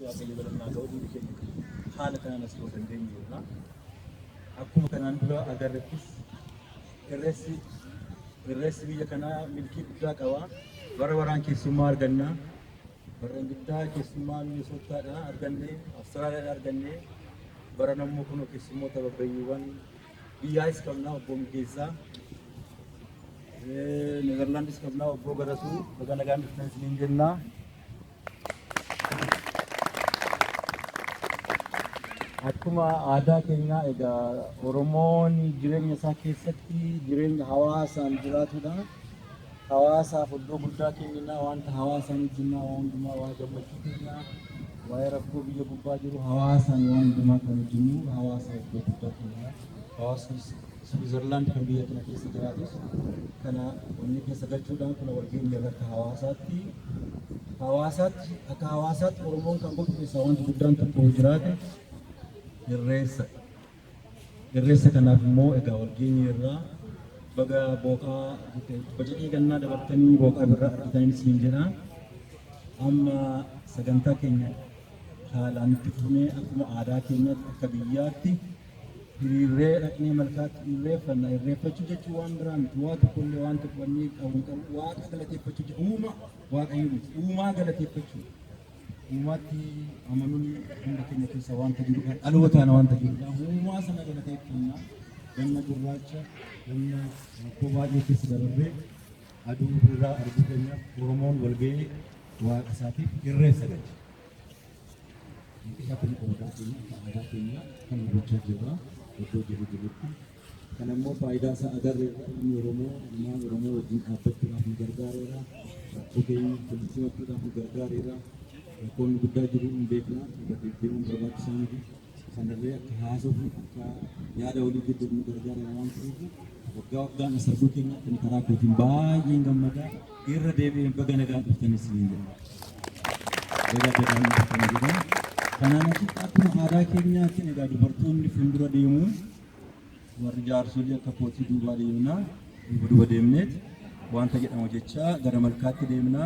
Waaqayyo galanni haa ta'u hundi keenya haala kanaan as ga'uu dandeenyu jirra. Akkuma kanaan dura agarrettis irreessi irreessi biyya kanaa milkii guddaa qaba. Bara baraan keessummaa arganna. Bara guddaa keessummaa Minisootaadha arganne, Awustiraaliyaadha arganne. Bara nammoo kun keessummoota babbayyiiwwan biyyaas qabna obbo Migeessaa. Neezerlaandis qabna obbo Garasuu. Baga nagaan dhuftan isiniin jenna. Akkuma aadaa keenyaa egaa Oromoon jireenya isaa keessatti jireenya hawaasaan jiraatudha. Hawaasaaf iddoo guddaa kennina wanta hawaasaan hojjennaa waan hundumaa waa gammachuu keenyaa waa'ee rakkoo biyya gubbaa jiru hawaasaan waan hundumaa kan hojjennu hawaasa iddoo guddaa kennina. Hawaasnis Switzerland kan biyya kana keessa jiraatus kana onnee keessa galchuudhaan kuna wal geenye irra akka hawaasaatti hawaasaatti akka hawaasaatti Oromoon kan godhu keessaa wanti guddaan tokko jiraate irreessa. Irreessa kanaaf immoo egaa wal geenye irraa baga booqaa bacaqii gannaa dabartanii booqaa birraa argatanii siin jedha. Amma sagantaa keenya haalaan itti fufnee akkuma aadaa keenyaatti akka biyyaatti Hiriirree dhaqnee malkaatti irreeffanna. Irreeffachuu jechuun waan biraa miti. Waa tokko illee waan tokko wanni qabu qabu waaqa galateeffachuu jechuudha. Uuma waaqayyo miti. Uumaa galateeffachuu. Uumaatti amanuun hunda keenya keessa wanta jirudha. Dhalootaan wanta jirudha. Uumaa sana galateeffanna. Ganna gurraacha, ganna rakkoo baay'ee keessa dabarree aduu birraa arguu keenyaaf Oromoon walga'ee waaqa isaatiif irreessa galcha. Hanqisa kun aadaa keenya akka aadaa keenyaa kan hubachaa jirra iddoo jirru jirrutti. Kana immoo faayidaa isaa agarreerra ilmi Oromoo ilmaan Oromoo wajjin dhaabbachuudhaaf nu gargaareera. Rakkoo keenya walitti simachuudhaaf nu gargaareera. Rakkoon guddaa jiru hin beekna irra deddeebiin barbaachisaa miti. Sanarree akka haasofnu akka yaada walii jijjiirru gargaarra waan ta'eef waggaa waggaan as arguu keenyaatti ani karaa kootiin baay'een gammadaa irra deebi'een baga nagaan dhuftanis ni jedha. Baga nagaan dhuftan jedha. Kanaan achitti akkuma aadaa keenyaatiin egaa dubartoonni fuuldura deemuun Warri jaarsolii akka kootii duubaa deemna. Duuba duuba deemneet wanta jedhamu jecha gara malkaatti deemna.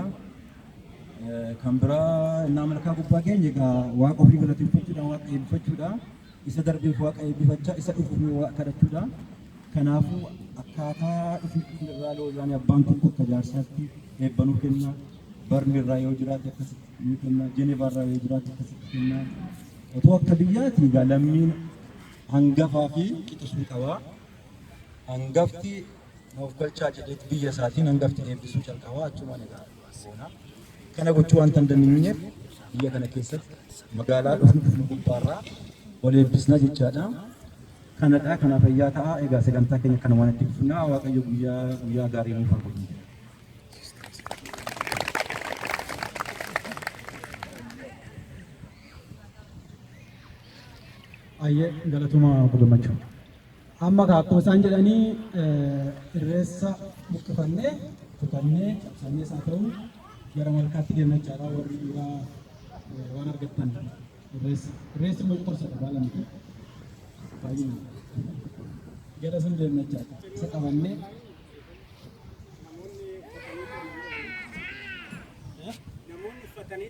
Kan biraa innaa malkaa gubbaa keenya egaa waaqa ofii galateeffachuudha, waaqa eebbifachuudha. Isa darbeef waaqa eebbifachaa, isa dhufuuf waaqa kadhachuudha. Kanaafuu akkaataa dhufni dhufni irraa loozaanii abbaan tokko akka jaarsaatti eebbanuu kenna. Barni irraa yoo jiraate akkasitti ni kenna. Jenevaa irraa yoo jiraate akkasitti kenna. Otoo akka biyyaati egaa lammiin Hangafaa fi qixa suu qaba. Hangafti na of galchaa jedheet biyya isaatiin hangafti eebbisuu calqabaa achumaan egaa boona. Kana gochuu wanta hin dandeenyeef biyya kana keessatti magaalaa dhufnu dhufnu gubbaarraa wal eebbisna jechaadha. Kanadha kana fayyaa ta'a egaa sagantaa keenya kana waan itti fufnaa waaqayyo guyyaa guyyaa gaarii nuuf haa godhu. Ayyee galatoma obbo Gammachuu. Amma kaa akkuma isaan jedhanii irreessa buqqifannee kutannee cabsannee isaa ta'u gara malkaatti deemna jechaadha warri dhiiraa waan argattan irreessa. Irreessi immoo qorsadha baala miti. Baay'inaan. Gara sun deemna jechaadha. Isa qabannee namoonni uffatanii